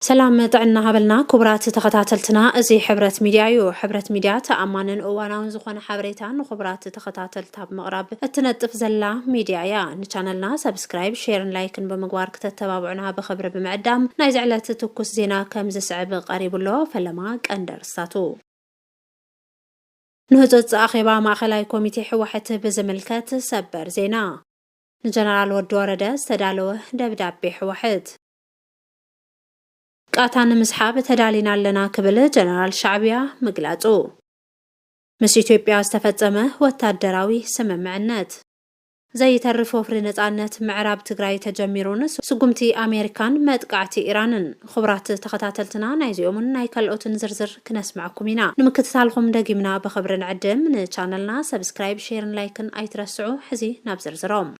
ሰላም ጥዕና ሃበልና ኩቡራት ተኸታተልትና እዚ ሕብረት ሚድያ እዩ ሕብረት ሚድያ ተኣማንን እዋናውን ዝኾነ ሓበሬታ ንኹቡራት ተኸታተልታ ብምቕራብ እትነጥፍ ዘላ ሚድያ እያ ንቻነልና ሰብስክራይብ ሼርን ላይክን ብምግባር ክተተባብዑና ብኽብሪ ብምዕዳም ናይ ዝዕለት ትኩስ ዜና ከም ዝስዕብ ቀሪቡ ኣሎ ፈለማ ቀንዲ ኣርስታቱ ንህፁፅ ኣኼባ ማእኸላይ ኮሚቴ ሕወሐት ብዝምልከት ሰበር ዜና ንጀነራል ወዲ ወረደ ዝተዳለወ ደብዳቤ ሕወሐት ቃታ ንምስሓብ ተዳሊና ኣለና ክብል ጀነራል ሻዕብያ ምግላጹ። ምስ ኢትዮጵያ ዝተፈጸመ ወታደራዊ ስምምዕነት። ዘይተርፍ ወፍሪ ነጻነት ምዕራብ ትግራይ ተጀሚሩን ስጉምቲ ኣሜሪካን መጥቃዕቲ ኢራንን። ኹብራት ተኸታተልትና ናይዚኦምን ናይ ካልኦትን ዝርዝር ክነስመዐኩም ኢና። ንምክትታልኹም ደጊምና ብኽብሪ ንዕድም። ንቻነልና ሰብስክራይብ ሼርን ላይክን ኣይትረስዑ። ሕዚ ናብ ዝርዝሮም።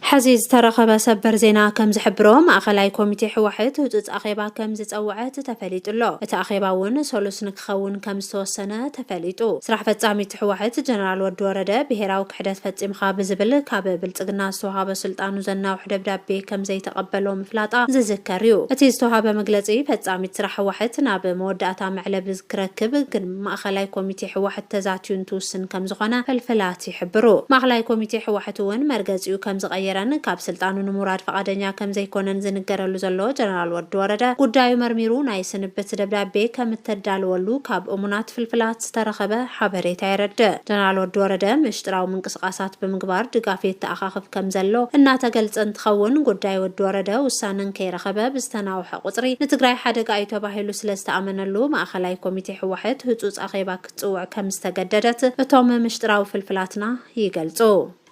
ሐዚ ዝተረኸበ ሰበር ዜና ከምዝሕብሮ ማእኸላይ ኮሚቴ ህወሐት ህፁፅ ኣኼባ ከምዝፀወዐት ተፈሊጡ ኣሎ። እቲ ኣኼባ እውን ሰሉስ ንክኸውን ከምዝተወሰነ ተፈሊጡ። ስራሕ ፈፃሚት ህወሐት ጀነራል ወዲ ወረደ ብሄራዊ ክሕደት ፈፂምኻ ብዝብል ካብ ብልፅግና ዝተውሃበ ስልጣኑ ዘናውሕ ደብዳቤ ከምዘይተቐበሎ ምፍላጣ ዝዝከር እዩ። እቲ ዝተውሃበ መግለፂ ፈፃሚት ስራሕ ህወሐት ናብ መወዳእታ መዕለቢ ክረክብ ግን ማእኸላይ ኮሚቴ ህወሐት ተዛትዩ እንትውስን ከምዝኾነ ፈልፈላት ይሕብሩ። ማእኽላይ ኮሚቴ ሕዋሕት እውን መርገፂኡ ከም ዝቐየረን ካብ ስልጣኑ ንምውራድ ፍቓደኛ ከም ዘይኮነን ዝንገረሉ ዘሎ ጀነራል ወዲ ወረደ ጉዳዩ መርሚሩ ናይ ስንብት ደብዳቤ ከም እተዳለወሉ ካብ እሙናት ፍልፍላት ዝተረኸበ ሓበሬታ የረድእ። ጀነራል ወዲ ወረደ ምሽጥራዊ ምንቅስቓሳት ብምግባር ድጋፍ የተኣኻኽብ ከም ዘሎ እናተገልፀ እንትኸውን ጉዳይ ወዲ ወረደ ውሳነ እንከይረኸበ ብዝተናውሐ ቁፅሪ ንትግራይ ሓደጋ እዩ ተባሂሉ ስለ ዝተኣመነሉ ማእኸላይ ኮሚቴ ሕዋሕት ህፁፅ ኣኼባ ክትጽውዕ ከም ዝተገደደት እቶም ምሽጥራዊ ፍልፍላትና ይገልጹ።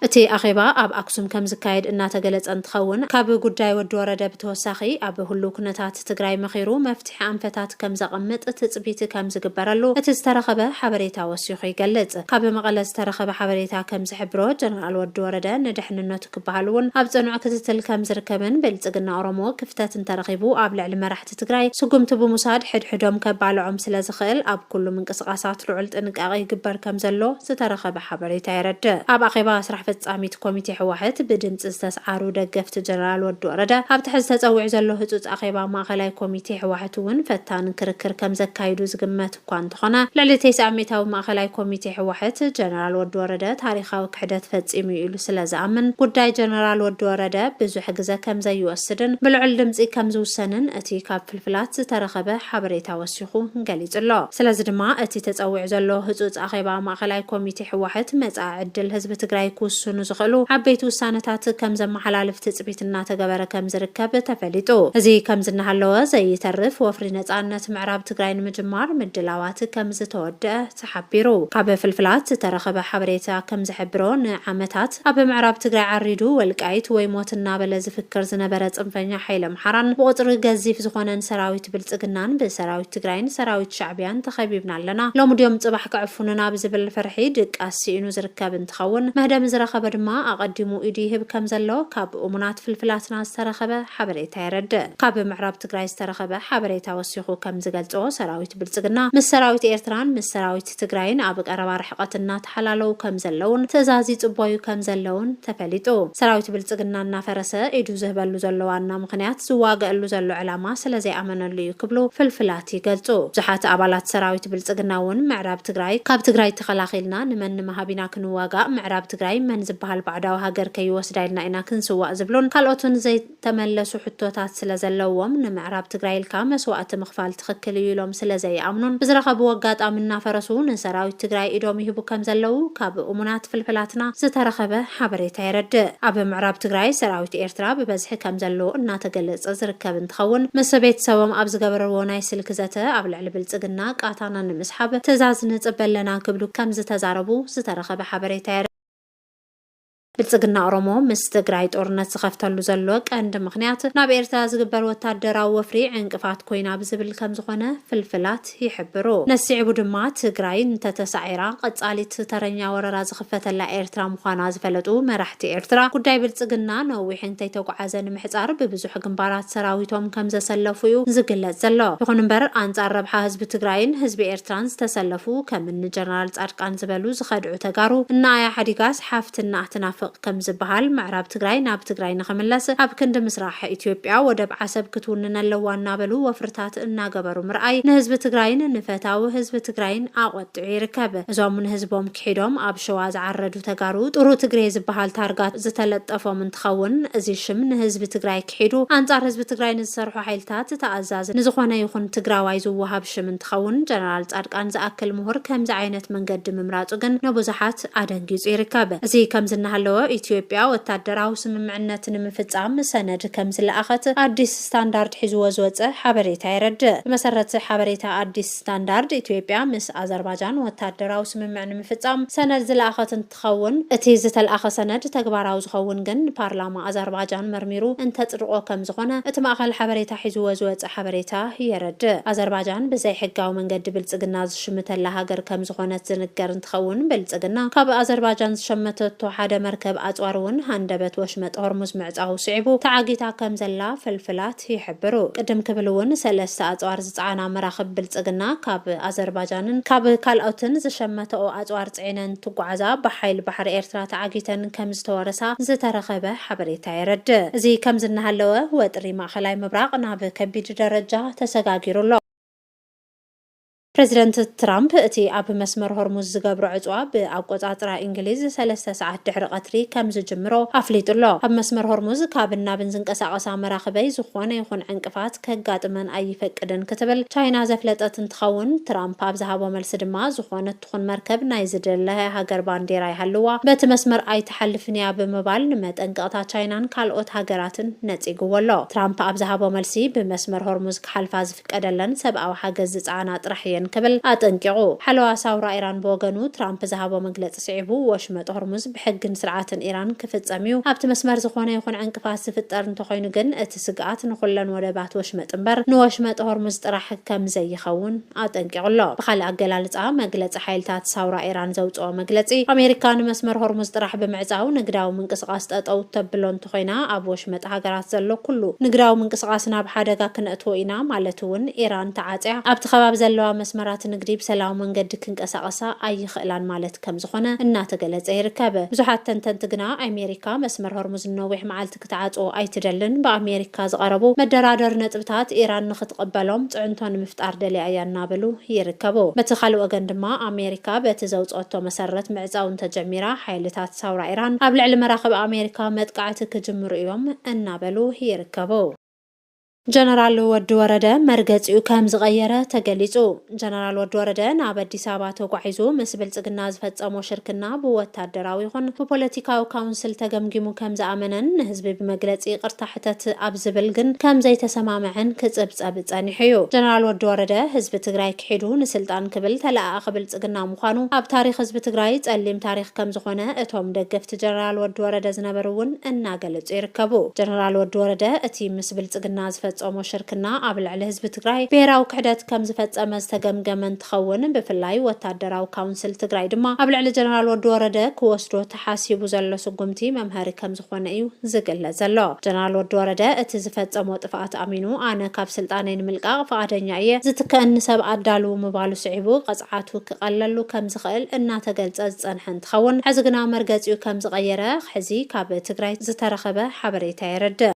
እቲ ኣኼባ ኣብ ኣክሱም ከም ዝካየድ እናተገለጸ እንትኸውን፣ ካብ ጉዳይ ወዲ ወረደ ብተወሳኺ ኣብ ህሉው ኩነታት ትግራይ መኺሩ መፍትሒ ኣንፈታት ከም ዘቐምጥ ትጽቢት ከም ዝግበረሉ እቲ ዝተረኸበ ሓበሬታ ወሲኹ ይገልጽ። ካብ መቐለ ዝተረኸበ ሓበሬታ ከም ዝሕብሮ፣ ጀነራል ወዲ ወረደ ንደሕንነቱ ክበሃል'ውን ኣብ ጽኑዕ ክትትል ከም ዝርከብን ብልጽግና ኦሮሞ ክፍተት እንተረኺቡ ኣብ ልዕሊ መራሕቲ መንግስቲ ትግራይ ስጉምቲ ብምውሳድ ሕድሕዶም ከባልዖም ስለዝኽእል ኣብ ኩሉ ምንቅስቓሳት ልዑል ጥንቃቐ ይግበር ከምዘሎ ዝተረኸበ ሓበሬታ የረድእ። ኣብ ኣኼባ ስራሕ ፈፃሚት ኮሚቴ ህወሐት ብድምፂ ዝተስዓሩ ደገፍቲ ጀነራል ወዲ ወረደ ኣብቲ ሕዚ ተፀዊዑ ዘሎ ህፁፅ ኣኼባ ማእኸላይ ኮሚቴ ህወሐት እውን ፈታኒ ክርክር ከምዘካይዱ ዝግመት እኳ እንተኾነ ልዕሊ ቴስዓ ሚእታዊ ማእኸላይ ኮሚቴ ህወሐት ጀነራል ወዲ ወረደ ታሪኻዊ ክሕደት ፈፂሙ እዩ ኢሉ ስለዝኣምን ጉዳይ ጀነራል ወዲ ወረደ ብዙሕ ግዘ ከምዘይወስድን ብልዑል ድምፂ ከምዝውሰንን እቲ ካብ ፍልፍላት ዝተረኸበ ሓበሬታ ወሲኹ ገሊፁ ኣሎ። ስለዚ ድማ እቲ ተፀዊዑ ዘሎ ህፁፅ ኣኼባ ማእኸላይ ኮሚቴ ህወሐት መፃኢ ዕድል ህዝቢ ትግራይ ክውስኑ ዝኽእሉ ዓበይቲ ውሳነታት ከምዘመሓላልፍ ትፅቢት እናተገበረ ከምዝርከብ ተፈሊጡ። እዚ ከምዚ እናሃለወ ዘይተርፍ ወፍሪ ነፃነት ፕሮጀክት ምዕራብ ትግራይ ንምጅማር ምድላዋት ከምዝተወደኣ ተሓቢሩ። ካብ ፍልፍላት ዝተረኸበ ሓበሬታ ከምዝሕብሮ ንዓመታት ኣብ ምዕራብ ትግራይ ዓሪዱ ወልቃይት ወይ ሞት እናበለ ዝፍክር ዝነበረ ፅንፈኛ ሓይሊ ኣምሓራን ብቑፅሪ ገዚፍ ዝኾነን ሰራዊት ብልፅግናን ብሰራዊት ትግራይን ሰራዊት ሻዕቢያን ተኸቢብና ኣለና ሎሚ ድዮም ፅባሕ ክዕፉኑና ብዝብል ፍርሒ ድቃስ ስኢኑ ዝርከብ እንትኸውን መህደሚ ዝረኸበ ድማ ኣቐዲሙ ኢዱ ይህብ ከምዘሎ ካብ እሙናት ፍልፍላትና ዝተረኸበ ሓበሬታ የረድእ። ካብ ምዕራብ ትግራይ ዝተረኸበ ሓበሬታ ወሲኹ ከምዝገልፆ ሰራዊት ብልፅግና ምስ ሰራዊት ኤርትራን ምስ ሰራዊት ትግራይን ኣብ ቀረባ ርሕቐት እናተሓላለዉ ከምዘለዉን ትእዛዝ ይፅበዩ ከምዘለዉን ተፈሊጡ። ሰራዊት ብልፅግና እናፈረሰ ኢዱ ዝህበሉ ዘሎ ዋና ምኽንያት ዝዋገኣሉ ዘሎ ዕላማ ስለዘይኣመነሉ እዩ ክብሉ ፍልፍላት ይገልፁ። ብዙሓት ኣባላት ሰራዊት ብልፅግና እውን ምዕራብ ትግራይ ካብ ትግራይ ተኸላኺልና ንመን ንምሃብ ኢና ክንዋጋእ ምዕራብ ትግራይ መን ዝበሃል ባዕዳዊ ሃገር ከይወስዳ ኢልና ኢና ክንስዋእ ዝብሉን ካልኦትን ዘይ ተመለሱ ሕቶታት ስለ ዘለዎም ንምዕራብ ትግራይ ኢልካ መስዋእቲ ምኽፋል ትኽክል እዩ ኢሎም ስለ ዘይኣምኑን ብዝረኸብዎ ኣጋጣሚ እናፈረሱ ንሰራዊት ትግራይ ኢዶም ይህቡ ከም ዘለዉ ካብ እሙናት ፍልፍላትና ዝተረኸበ ሓበሬታ የረድእ። ኣብ ምዕራብ ትግራይ ሰራዊት ኤርትራ ብበዝሒ ከም ዘሎ እናተገለፀ ዝርከብ እንትኸውን ምስ ቤተሰቦም ኣብ ዝገበርዎ ናይ ስልኪ ዘተ ኣብ ልዕሊ ብልፅግና ቃታና ንምስሓብ ትእዛዝ ንፅበ ኣለና ክብሉ ከም ዝተዛረቡ ዝተረኸበ ሓበሬታ ብልፅግና ኦሮሞ ምስ ትግራይ ጦርነት ዝኸፍተሉ ዘሎ ቀንዲ ምኽንያት ናብ ኤርትራ ዝግበር ወታደራዊ ወፍሪ ዕንቅፋት ኮይና ብዝብል ከምዝኾነ ፍልፍላት ይሕብሩ። ነሲዕቡ ድማ ትግራይ እንተተሳዒራ ቐፃሊት ተረኛ ወረራ ዝኽፈተላ ኤርትራ ምዃና ዝፈለጡ መራሕቲ ኤርትራ ጉዳይ ብልፅግና ነዊሕ እንተይተጉዓዘ ንምሕፃር ብብዙሕ ግንባራት ሰራዊቶም ከምዘሰለፉ ዩ ዝግለፅ ዘሎ። ይኹን እምበር ኣንፃር ረብሓ ህዝቢ ትግራይን ህዝቢ ኤርትራን ዝተሰለፉ ከምኒ ጀነራል ፃድቃን ዝበሉ ዝኸድዑ ተጋሩ እናኣያ ሓዲጋ ሓፍትና ትናፍቕ ከምዝበሃል ምዕራብ ትግራይ ናብ ትግራይ ንኽምለስ ኣብ ክንዲ ምስራሕ ኢትዮጵያ ወደብ ዓሰብ ክትውንን ኣለዋ እናበሉ ወፍርታት እናገበሩ ምርኣይ ንህዝቢ ትግራይን ንፈታዊ ህዝቢ ትግራይን ኣቖጢዑ ይርከብ። እዞም ንህዝቦም ክሒዶም ኣብ ሸዋ ዝዓረዱ ተጋሩ ጥሩ ትግሬ ዝበሃል ታርጋ ዝተለጠፎም እንትኸውን እዚ ሽም ንህዝቢ ትግራይ ኣካሒዱ ኣንፃር ህዝቢ ትግራይ ንዝሰርሑ ሓይልታት ተኣዛዚ ንዝኾነ ይኹን ትግራዋይ ዝወሃብ ሽም እንትኸውን ጀነራል ፃድቃን ዝኣክል ምሁር ከምዚ ዓይነት መንገዲ ምምራፁ ግን ንብዙሓት ኣደንጊፁ ይርከብ። እዚ ከምዚ እናሃለወ ኢትዮጵያ ወታደራዊ ስምምዕነት ንምፍፃም ሰነድ ከምዝለኣኸት ኣዲስ ስታንዳርድ ሒዝዎ ዝወፀ ሓበሬታ የረድእ። ብመሰረት ሓበሬታ ኣዲስ ስታንዳርድ ኢትዮጵያ ምስ ኣዘርባጃን ወታደራዊ ስምምዕ ንምፍፃም ሰነድ ዝለኣኸት ትኸውን። እቲ ዝተልኣኸ ሰነድ ተግባራዊ ዝኸውን ግን ፓርላማ ኣዘርባጃን መርሚሩ እንተጽድቖ ከም ዝኾነ እቲ ማእኸል ሓበሬታ ሒዝዎ ዝወጸ ሓበሬታ የረድእ። ኣዘርባጃን ብዘይሕጋዊ መንገዲ ብልጽግና ዝሽምተላ ሃገር ከም ዝኾነት ዝንገር እንትኸውን ብልጽግና ካብ ኣዘርባጃን ዝሸመተቶ ሓደ መርከብ ኣጽዋር እውን ሃንደበት ወሽመጥ ሆርሙዝ ምዕጻዉ ስዒቡ ተዓጊታ ከም ዘላ ፍልፍላት ይሕብሩ። ቅድም ክብል እውን ሰለስተ ኣጽዋር ዝጸዓና መራኽብ ብልጽግና ካብ ኣዘርባጃንን ካብ ካልኦትን ዝሸመተኦ ኣጽዋር ጼነን ትጓዓዛ ብሓይሊ ባሕሪ ኤርትራ ተዓጊተን ከምዝተወረሳ ዝተረኸበ ሓበሬታ የረድእ። እዚ ከምዚ እናሃለወ ወጥሪ ማእኸላይ ምብራቕ ናብ ከቢድ ደረጃ ተሰጋጊሩ ኣሎ። ፕረዚደንት ትራምፕ እቲ ኣብ መስመር ሆርሙዝ ዝገብሮ ዕጽዋ ብኣቆጻጽራ ኢንግሊዝ ሰለስተ ሰዓት ድሕሪ ቐትሪ ከምዝጅምሮ ኣፍሊጡ ኣሎ። ኣብ መስመር ሆርሙዝ ካብን ናብን ዝንቀሳቐሳ መራኽበይ ዝኾነ ይኹን ዕንቅፋት ከጋጥመን ኣይፈቅድን ክትብል ቻይና ዘፍለጠት እንትኸውን ትራምፕ ኣብ ዝሃቦ መልሲ ድማ ዝኾነ ትኹን መርከብ ናይ ዝደለያ ሃገር ባንዴራ ይሃልዋ በቲ መስመር ኣይትሓልፍን እያ ብምባል ንመጠንቀቕታ ቻይናን ካልኦት ሃገራትን ነጺግዎ ኣሎ። ትራምፕ ኣብ ዝሃቦ መልሲ፣ ብመስመር ሆርሙዝ ክሓልፋ ዝፍቀደለን ሰብኣዊ ሓገዝ ዝጸዓና ጥራሕ እየን ክብል ኣጠንቂቑ። ሓለዋ ሳውራ ኢራን ብወገኑ፣ ትራምፕ ዝሃቦ መግለጺ ስዒቡ፣ ወሽመጥ ሆርሙዝ ብሕግን ስርዓትን ኢራን ክፍጸም እዩ፣ ኣብቲ መስመር ዝኾነ ይኹን ዕንቅፋት ዝፍጠር እንተኾይኑ ግን እቲ ስግኣት ንኹለን ወደባት ወሽመጥ እምበር ንወሽመጥ ሆርሙዝ ጥራሕ ከምዘይኸውን ኣጠንቂቑ ኣሎ። ብኻልእ ኣገላልጻ፣ መግለጺ ሓይልታት ሳውራ ኢራን ዘውጽኦ መግለጺ፣ ኣሜሪካ ንመስመር ሆርሙዝ ጥራሕ ብምዕጻው ንግዳዊ ምንቅስቓስ ጠጠው እተብሎ እንተኾይና፣ ኣብ ወሽመጥ ሃገራት ዘሎ ኩሉ ንግዳዊ ምንቅስቓስ ናብ ሓደጋ ክነእትዎ ኢና፣ ማለት እውን ኢራን ተዓጽያ ኣብቲ ከባቢ ዘለዋ መስመራት ንግዲ ብሰላዊ መንገዲ ክንቀሳቐሳ ኣይኽእላን ማለት ከምዝኾነ እናተገለጸ ይርከብ። ብዙሓት ተንተንቲ ግና፣ ኣሜሪካ መስመር ሆርሙዝ ንነዊሕ መዓልት። ክትዓጹ ኣይትደልን። ብኣሜሪካ ዝቐረቡ መደራደሪ ነጥብታት ኢራን ንኽትቕበሎም ጽዕንቶ ንምፍጣር ደልያ እያ እናበሉ ይርከቡ። በቲ ካልእ ወገን ድማ ኣሜሪካ በቲ ዘውጽኦቶ መሰረት ምዕጻው እንተጀሚራ ሓይልታት ሳውራ ኢራን ኣብ ልዕሊ መራኽብ ኣሜሪካ መጥቃዕቲ ክጅምሩ እዮም እናበሉ ይርከቡ። ጀነራል ወዲ ወረደ መርገፂኡ ከም ዝቐየረ ተገሊፁ። ጀነራል ወዲ ወረደ ናብ ኣዲስ ኣበባ ተጓዒዙ ምስ ብልፅግና ዝፈፀሞ ሽርክና ብወታደራዊ ይኹን ብፖለቲካዊ ካውንስል ተገምጊሙ ከም ዝኣመነን ንህዝቢ ብመግለፂ ይቕርታ ሕተት ኣብ ዝብል ግን ከም ዘይተሰማምዐን ክፅብፀብ ፀኒሑ እዩ። ጀነራል ወዲ ወረደ ህዝቢ ትግራይ ክሒዱ ንስልጣን ክብል ተለኣኣኺ ብልፅግና ምዃኑ ኣብ ታሪኽ ህዝቢ ትግራይ ፀሊም ታሪኽ ከም ዝኾነ እቶም ደገፍቲ ጀነራል ወዲ ወረደ ዝነበሩ እውን እናገለፁ ይርከቡ። ጀነራል ወዲ ወረደ እቲ ምስ ብልፅግና ዝፈፀሞ ሽርክና ኣብ ልዕሊ ህዝቢ ትግራይ ብሄራዊ ክሕደት ከምዝፈፀመ ዝተገምገመ እንትኸውን ብፍላይ ወታደራዊ ካውንስል ትግራይ ድማ ኣብ ልዕሊ ጀነራል ወዲ ወረደ ክወስዶ ተሓሲቡ ዘሎ ስጉምቲ መምሀሪ ከምዝኾነ እዩ ዝግለፅ ዘሎ። ጀነራል ወዲ ወረደ እቲ ዝፈፀሞ ጥፍኣት ኣሚኑ ኣነ ካብ ስልጣነይ ንምልቃቕ ፍቓደኛ እየ፣ ዝትከኣኒ ሰብ ኣዳልዉ ምባሉ ስዒቡ ቕፅዓቱ ክቐለሉ ከምዝኽእል እናተገልፀ ዝፀንሐ እንትኸውን ሕዚ ግና መርገፂኡ ከምዝቐየረ ሕዚ ካብ ትግራይ ዝተረኸበ ሓበሬታ የረድእ።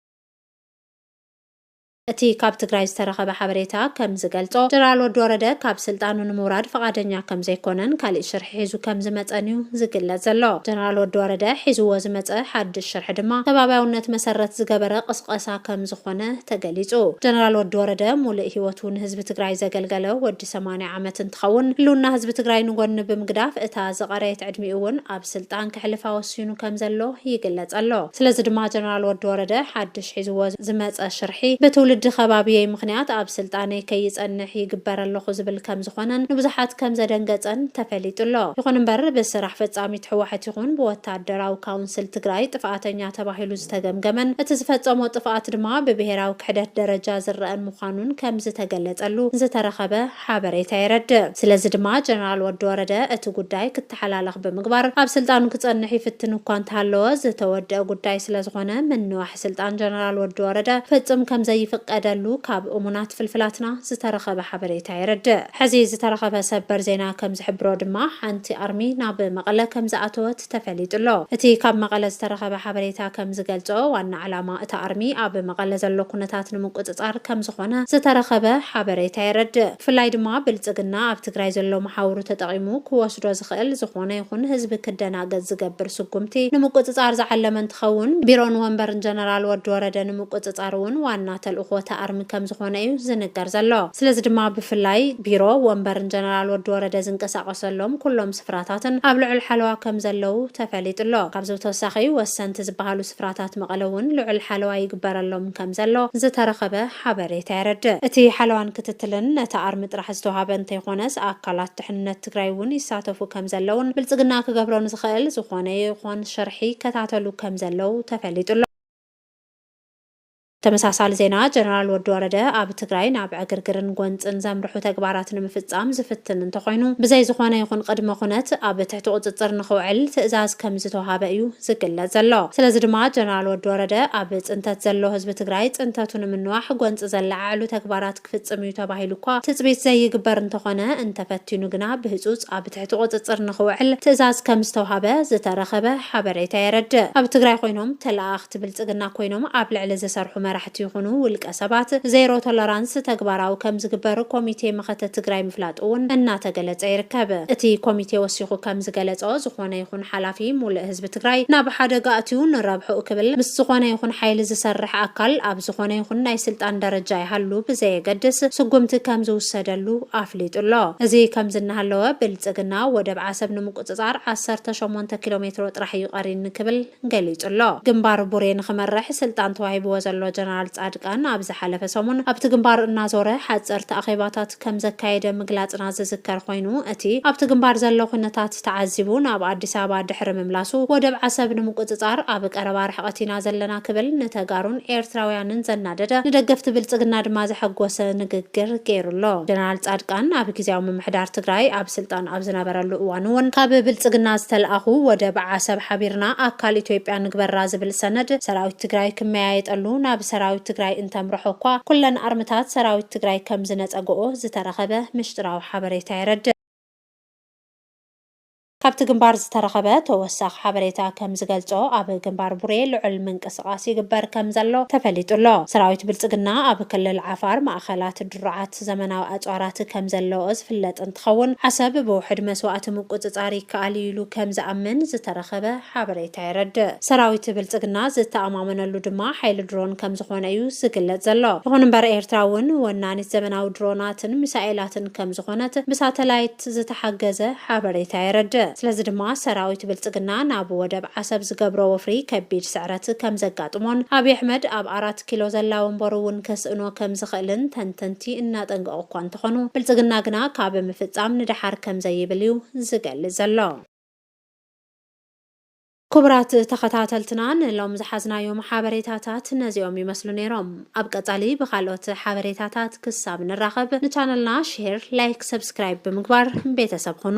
እቲ ካብ ትግራይ ዝተረኸበ ሓበሬታ ከም ዝገልጾ፣ ጀነራል ወዲ ወረደ ካብ ስልጣኑ ንምውራድ ፍቓደኛ ከም ዘይኮነን ካሊእ ሽርሒ ሒዙ ከም ዝመጸን እዩ ዝግለጽ ዘሎ። ጀነራል ወዲ ወረደ ሒዝዎ ዝመጸ ሓድሽ ሽርሒ ድማ ከባብያውነት መሰረት ዝገበረ ቕስቐሳ ከም ዝኾነ ተገሊጹ። ጀነራል ወዲ ወረደ ሙሉእ ሂወቱ ንህዝቢ ትግራይ ዘገልገለ ወዲ ሰማንያ ዓመት እንትኸውን፣ ህልውና ህዝቢ ትግራይ ንጎኒ ብምግዳፍ እታ ዝቐረየት ዕድሚኡ እውን ኣብ ስልጣን ከሕልፋ ወሲኑ ከም ዘሎ ይግለፅ ኣሎ። ስለዚ ድማ ጀነራል ወዲ ወረደ ሓድሽ ሒዝዎ ዝመፀ ሽርሒ ብትውልዲ ከባብየይ ምኽንያት ኣብ ስልጣነይ ከይፀንሕ ይግበር ኣለኹ ዝብል ከም ዝኾነን ንብዙሓት ከም ዘደንገፀን ተፈሊጡ ኣሎ። ይኹን እምበር ብስራሕ ፈፃሚት ህወሐት ይኹን ብወታደራዊ ካውንስል ትግራይ ጥፍኣተኛ ተባሂሉ ዝተገምገመን እቲ ዝፈፀሞ ጥፍኣት ድማ ብብሄራዊ ክሕደት ደረጃ ዝረኣን ምዃኑን ከምዝተገለፀሉ ዝተረኸበ ሓበሬታ የረድእ። ስለዚ ድማ ጀነራል ወዲ ወረደ እቲ ጉዳይ ክተሓላለኽ ብምግባር ኣብ ስልጣኑ ክፀንሕ ይፍትን እኳ እንተሃለወ ዝተወደኣ ጉዳይ ስለዝኾነ ምንዋሕ ስልጣን ጀነራል ወዲ ወረደ ፍፁም ከምዘይፍቀደሉ ካብ እሙናት ፍልፍላትና ዝተረኸበ ሓበሬታ የረድእ። ሕዚ ዝተረኸበ ሰበር ዜና ከምዝሕብሮ ድማ ሓንቲ ኣርሚ ናብ መቐለ ከምዝኣተወት ተፈሊጡ'ሎ። እቲ ካብ መቐለ ዝተረኸበ ሓበሬታ ከም ዝገልጾ፣ ዋና ዕላማ እቲ ኣርሚ ኣብ መቐለ ዘሎ ኩነታት ንምቁጽጻር ከም ዝኾነ ዝተረኸበ ሓበሬታ የረድእ። ብፍላይ ድማ ብልጽግና ኣብ ትግራይ ዘሎ መሓውሩ ተጠቒሙ ክወስዶ ዝኽእል ዝኾነ ይኹን ህዝቢ ክደናገጽ ዝገብር ስጉምቲ ንምቁጽጻር ዝዓለመ እንትኸውን፣ ቢሮን ወንበርን ጀነራል ወዲ ወረደ ንምቁጽጻር እውን ዋና ተልእኾ እቲ ኣርሚ ከም ዝኾነ እዩ ዝንገር ዘሎ። ስለዚ ድማ ብፍላይ ቢሮ ወንበርን ጀነራል ወዲ ወረደ ዝንቀሳቐሰሎም ኩሎም ስፍራታትን ኣብ ልዑል ሓለዋ ከምዘለዉ ተፈሊጡ'ሎ። ካብዚ ብተወሳኺ ወሰንቲ ዝበሃሉ ስፍራታት መቐለ እውን ልዑል ሓለዋ ይግበረሎም ከምዘሎ ዝተረኸበ ሓበሬታ የረድእ። እቲ ሓለዋን ክትትልን ነቲ ኣርሚ ጥራሕ ዝተውሃበ እንተይኾነስ ኣካላት ድሕንነት ትግራይ እውን ይሳተፉ ከምዘለዉን ብልፅግና ክገብሮ ንዝኽእል ዝኾነ ይኾን ሽርሒ ይከታተሉ ከምዘለዉ ተፈሊጡ'ሎ። ተመሳሳሊ ዜና ጀነራል ወዲ ወረደ ኣብ ትግራይ ናብ ዕግርግርን ጎንፅን ዘምርሑ ተግባራት ንምፍፃም ዝፍትን እንተኾይኑ ብዘይ ዝኾነ ይኹን ቕድመ ኹነት ኣብ ትሕቲ ቑፅፅር ንኽውዕል ትእዛዝ ከምዝተውሃበ እዩ ዝግለፅ ዘሎ። ስለዚ ድማ ጀነራል ወዲ ወረደ ኣብ ፅንተት ዘሎ ህዝቢ ትግራይ ፅንተቱ ንምንዋሕ ጎንፂ ዘለዓዕሉ ተግባራት ክፍጽም እዩ ተባሂሉ እኳ ትጽቢት ዘይግበር እንተኾነ፣ እንተፈቲኑ ግና ብህጹጽ ኣብ ትሕቲ ቁጽጽር ንኽውዕል ትእዛዝ ከምዝተውሃበ ዝተረኸበ ሓበሬታ የረድእ። ኣብ ትግራይ ኮይኖም ተለኣኣኽቲ ብልጽግና ኮይኖም ኣብ ልዕሊ ዝሰርሑ መራሕቲ ይኹኑ ውልቀ ሰባት ዜሮ ቶለራንስ ተግባራዊ ከምዝግበር ኮሚቴ መኸተ ትግራይ ምፍላጡ እውን እናተገለጸ ይርከብ። እቲ ኮሚቴ ወሲኹ ከምዝገለጾ ዝኾነ ይኹን ሓላፊ ሙልእ ህዝቢ ትግራይ ናብ ሓደጋ ኣእትዩ ንረብሕኡ ክብል ምስ ዝኾነ ይኹን ሓይሊ ዝሰርሕ ኣካል ኣብ ዝኾነ ይኹን ናይ ስልጣን ደረጃ ይሃሉ ብዘየገድስ ስጉምቲ ከምዝውሰደሉ ኣፍሊጡ ኣሎ። እዚ ከምዚ እናሃለወ ብልፅግና ወደብ ዓሰብ ንምቁፅፃር ዓሰርተ ሸሞንተ ኪሎ ሜትሮ ጥራሕ እዩ ቀሪኒ ክብል ገሊፁ ኣሎ። ግንባር ቡሬ ንኽመርሕ ስልጣን ተዋሂብዎ ዘሎ ጀነራል ፃድቃን ኣብ ዝሓለፈ ሰሙን ኣብቲ ግንባር እናዞረ ሓፀርቲ ኣኼባታት ከም ዘካየደ ምግላጽና ዝዝከር ኮይኑ፣ እቲ ኣብቲ ግንባር ዘሎ ኩነታት ተዓዚቡ ናብ ኣዲስ ኣበባ ድሕሪ ምምላሱ፣ ወደብ ዓሰብ ንምቁጽጻር ኣብ ቀረባ ርሕቐት ኢና ዘለና ክብል ንተጋሩን ኤርትራውያንን ዘናደደ፣ ንደገፍቲ ብልጽግና ድማ ዘሐጎሰ ንግግር ገይሩ ኣሎ። ጀነራል ጻድቃን ኣብ ግዝያዊ ምምሕዳር ትግራይ ኣብ ስልጣን ኣብ ዝነበረሉ እዋን'ውን ካብ ብልጽግና ዝተልኣኹ ወደብ ዓሰብ ሓቢርና ኣካል ኢትዮጵያ ንግበራ ዝብል ሰነድ ሰራዊት ትግራይ ክመያየጠሉ ናብ ሰራዊት ትግራይ እንተምረሖ'ኳ ኩለን ኣርምታት ሰራዊት ትግራይ ከምዝነጸገኦ ዝተረኸበ ምሽጥራዊ ሓበሬታ የረድእ። ካብቲ ግንባር ዝተረኸበ ተወሳኺ ሓበሬታ ከምዝገልጾ ኣብ ግንባር ቡሬ ልዑል ምንቅስቓስ ይግበር ከምዘሎ ተፈሊጡ ኣሎ። ሰራዊት ብልጽግና ኣብ ክልል ዓፋር ማእኸላት ድሩዓት ዘመናዊ ኣጽዋራት ከምዘለዎ ዝፍለጥ እንትኸውን ዓሰብ ብውሕድ መስዋእቲ ምቁጽጻር ይከኣል እዩ ኢሉ ከምዝኣምን ዝተረኸበ ሓበሬታ የረድእ። ሰራዊት ብልጽግና ዝተኣማመነሉ ድማ ሓይሊ ድሮን ከምዝኾነ እዩ ዝግለጽ ዘሎ። ይኹን እምበር ኤርትራ እውን ወናኒት ዘመናዊ ድሮናትን ሚሳኤላትን ከምዝኾነት ብሳተላይት ዝተሓገዘ ሓበሬታ የረድእ። ስለዚ ድማ ሰራዊት ብልጽግና ናብ ወደብ ዓሰብ ዝገብሮ ወፍሪ ከቢድ ስዕረት ከምዘጋጥሞን ኣብይ ኣሕመድ ኣብ ኣራት ኪሎ ዘላ ወንበሩ እውን ከስእኖ ከምዝኽእልን ተንተንቲ እናጠንቀቑ እኳ እንተኾኑ ብልጽግና ግና ካብ ምፍጻም ንደሓር ከምዘይብል እዩ ዝገልጽ ዘሎ። ኩቡራት ተኸታተልትና ንሎሚ ዝሓዝናዮም ሓበሬታታት ነዚኦም ይመስሉ ኔሮም። ኣብ ቀጻሊ ብካልኦት ሓበሬታታት ክሳብ ንራኸብ ንቻነልና ሼር፣ ላይክ፣ ሰብስክራይብ ብምግባር ቤተሰብ ኹኑ።